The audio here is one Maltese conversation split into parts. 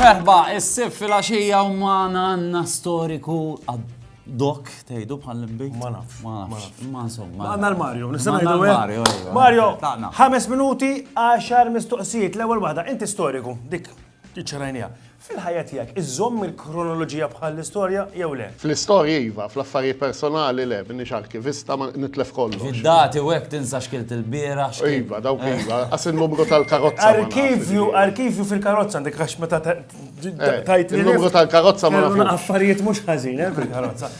Merħba, is-sif fil-axija u maħna għanna storiku Dok, tejdu bħal l-imbejt? Ma nafx. Ma nafx. Ma insomma. Għanna l-Mario, nistana jdu eh? Mario, Mario, ħames minuti, għaxar mistoqsijiet, l-ewel wahda, inti storiku, dik. Iċċarajniha. Fil-ħajja tiegħek, iżżomm il-kronoloġija bħall-istorja jew le? Fl-istorji iva, fl-affarijiet personali le, m'iniex arkivista, ma nitlef kollox. Fid-dati u hekk tinsa x'kilt il-bieraħ, x'kilt. Iva, dawk iva, qas in-numru tal-karozza ma nafx. Arkivju, arkivju fil-karozza għandek għax meta tgħidli. In-numru tal-karozza ma nafx. Affarijiet mhux ħażin, eh, fil-karozza.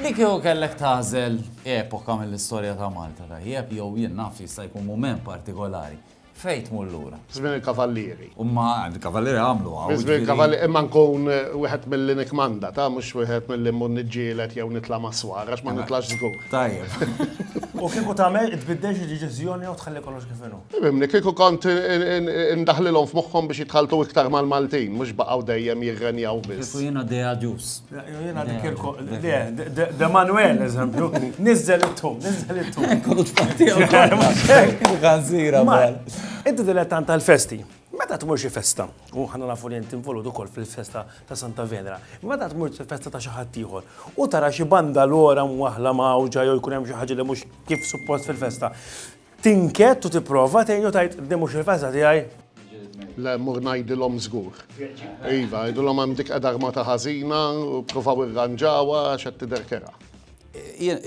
Inti kieku kellek tagħżel epoka mill-istorja ta' Malta tajjeb jew jien naf jista' jkun mument partikolari, Fejn tmur lura? Żmien il-Kavallieri. U ma l-Kavallieri għamlu hawn. Minn żmien il-Kavallieri imma nkun wieħed milli nikkmanda, ta' mhux wieħed milli mmur niġġieled jew nitla' mas-swar għax ma nitlax żgur. Tajjeb. U kieku tagħmel, tbiddilx id-deċiżjoni jew tħalli kollox kif inhu? Fimni, kieku kont indaħħlilhom f'moħħhom biex jitħalltu iktar mal-Maltin, mhux baqgħu dejjem jirrenjaw biss. Kieku jiena Deagius. Jena dik il De Manuel, eżempju, nizzel it-tum, nizzel it-tum. Kont fatti għanzira. Inti dilettant tal-festi. Meta tmur xi festa, u ħana nafu li inti involut ukoll fil-festa ta' Santa Venera, meta tmur xi festa ta' xi ħadd ieħor, u tara xi banda l-ora mwaħla mawġa jew jkun hemm xi ħaġa li mhux kif suppost fil-festa. Tinkett u tipprova tgħin u tgħid din mhux il-festa tiegħi. Le, mur ngħidilhom żgur. Iva, għidulhom hemm dik qiegħda armata ħażina u ppruvaw irranġawha għax qed tidher kerha. Jien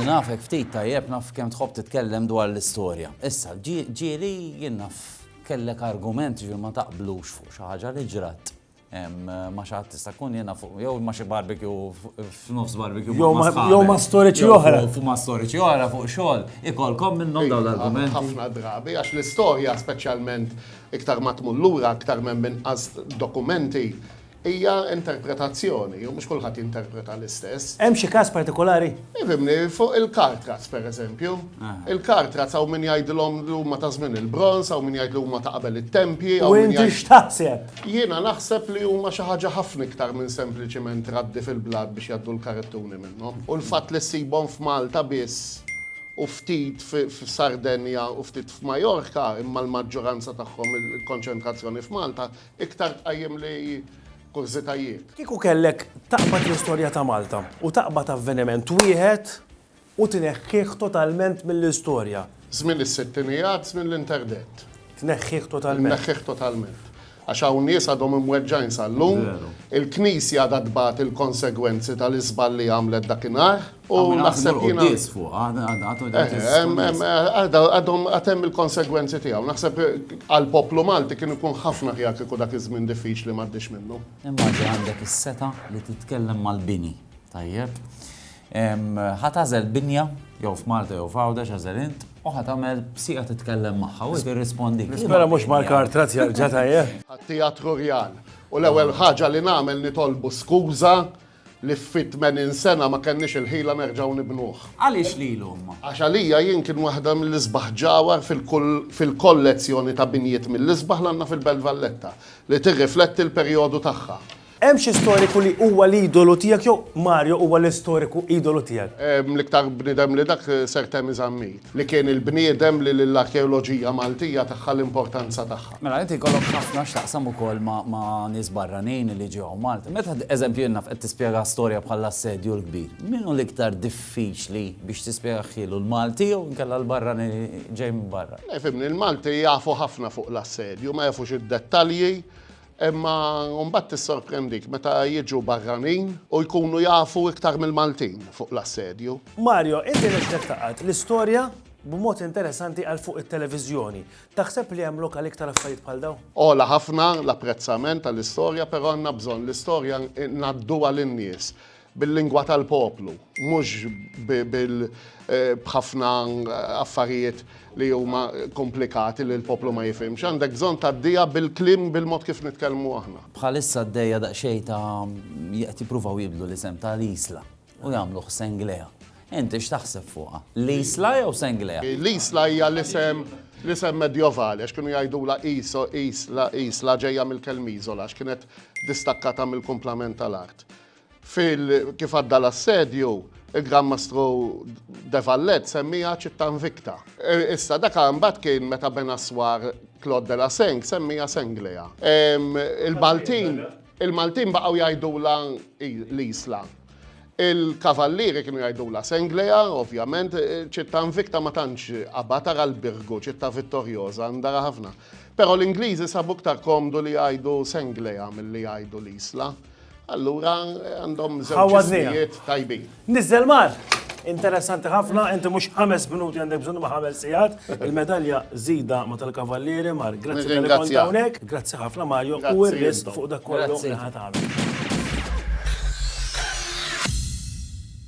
nafek ftit tajjeb naf kemm tħobb titkellem dwar l-istorja. Issa, ġieli jien naf kellek argument ġifieri ma taqblux fuq xi ħaġa li ġrat. Ma xi ħadd tista' tkun jiena fuq jew ma xi barbecue f'nofs barbecue. Jew ma storiċi oħra. Fu ma storiċi oħra fuq xogħol ikolkom minnhom dawn l-argumenti. Ħafna drabi għax l-istorja speċjalment iktar ma tmur lura aktar m'hemm inqas dokumenti hija interpretazzjoni u mhux kulħadd jinterpreta l-istess. Hemm xi każ partikolari? Ifhimni, fuq il-kartraz pereżempju. Il-kartraz hawn min jgħidilhom li huma ta' żmien il-bronż, hawn min jgħid li huma ta' qabel it-tempji. U inti x'taħseb? Jiena naħseb li huma xi ħaġa ħafna iktar minn sempliċiment raddi fil-blat biex jgħaddu l-karittuni minnhom. U l-fatt li ssibhom f'Malta biss u ftit f'Sardenja u ftit f'Majorka, imma l-maġġuranza tagħhom il-konċentrazzjoni f'Malta, iktar tqajjimli kurżitajiet. Kieku kellek taqbad l-istorja ta' Malta u taqbad avveniment wieħed, U tneħħih totalment mill-istorja. Żmien is-sittinijat, żmien l-interdett. Tneħħih totalment. Tneħħih totalment. Għax hawn nies għadhom imweġġgħin sal-lum. Veru. Il-Knisja għadha tbati l-konsegwenzi tal-iżball li għamlet dakinhar. U naħseb jiena. Għadhom il-quddies fuqha, għadhom il-quddies. Għadhom għad hemm il-konsegwenzi tiegħu. Naħseb għall-poplu Malti kien ikun ħafna aħjar kieku dak iż-żmien diffiċli m'għaddiex minnu. Immaġina għandek is-setgħa li titkellem mal-bini, tajjeb? Ħa tagħżel binja, jew f'Malta jew f'Għawdex għażel int, u ħa tagħmel b'sieqa titkellem magħha u tirrispondik. Nispera mhux Mark Artraz jerġa' tajjeb. Għat-Teatru Rjal. U l-ewwel ħaġa li nagħmel nitolbu skuża li fi tmenin sena ma kenniex il-ħila nerġgħu nibnuh. Għaliex lilu imma? Għax għalija jien kien waħda mill-isbaħ ġawhar fil-kollezzjoni ta' binjiet mill-isbaħ li għandna fil-Belt Valletta li tirrifletti l-perjodu tagħha. Hemm xi storiku li huwa l-idolu tiegħek jew Mario huwa l-istoriku idolu tiegħek? L-iktar bniedem li dak Sir Temi Zammit, li kien il-bniedem li lill-arkeoloġija Maltija tagħha l-importanza tagħha. Mela inti jkollok ħafna x'taqsam ukoll ma' nies barranin li ġew hawn Malta. Meta eżempju innaf qed tispjega storja bħall-Assedju l-Kbir, min hu l-iktar diffiċli biex tispjegah ħielu, l-Malti jew inkella l-barranin li ġej minn barra? Le fhimni, l-Malti jafu ħafna fuq l-Assedju, ma jafux id-dettalji, Imma mbagħad tissorprendik meta jiġu barranin u jkunu jafu iktar mill-Maltin fuq l-assedju. Mario, inti nexxlek tgħaqqad l-istorja b'mod interesanti għal fuq it-televiżjoni. Taħseb li hemm lok għal iktar affarijiet bħal dawn? Għola ħafna l-apprezzament għall-istorja, però għandna bżonn l-istorja ngħadduha lin-nies. bil-lingwa tal-poplu, mhux b'ħafna affarijiet li huma komplikati li l-poplu ma jifhimx. Għandek bżonn tgħaddiha bil-kliem bil-mod kif nitkellmu aħna. Bħalissa għaddejja daqsxejn ta' qed jippruvaw jibdlu l-isem ta' l-Isla u jagħmluh Senglea. Inti x'taħseb fuqha? L-Isla jew Senglea? L-Isla hija l-isem l-isem Medjovali għax kienu jgħidulha Iso, Isla, Isla ġejja mill-kelma Isola għax kienet distakkata mill-kumplament tal-art. Fil kif għadda l-assedju, il-Gran Mastru de Vallet semmiha ċittà invicta. E, issa daka mbagħad kien meta Ben Aswar Claude de la Seng semmiha Senglea. Il-Maltin il-Maltin baqgħu jgħidula l-Isla. Il-Kavallieri kienu jgħidula Senglea, ovvjament, ċittà invicta ma tantx qabad ara l-Birgu, ċittà vittorjoża, ndara ħafna. Però l-Ingliżi sabu iktar komdu li jgħidu Senglea milli jgħidu l-Isla. Allura għandhom żewġijiet tajbin. Nizzel mar! Interessanti ħafna, inti mhux ħames minuti għandek bżonn ma ħames sigħat. Il-medalja żida ma tal-kavallieri mar. Grazzi tal kont hawnhekk. Grazzi ħafna Mario u r-rest fuq dak kollu li ħadd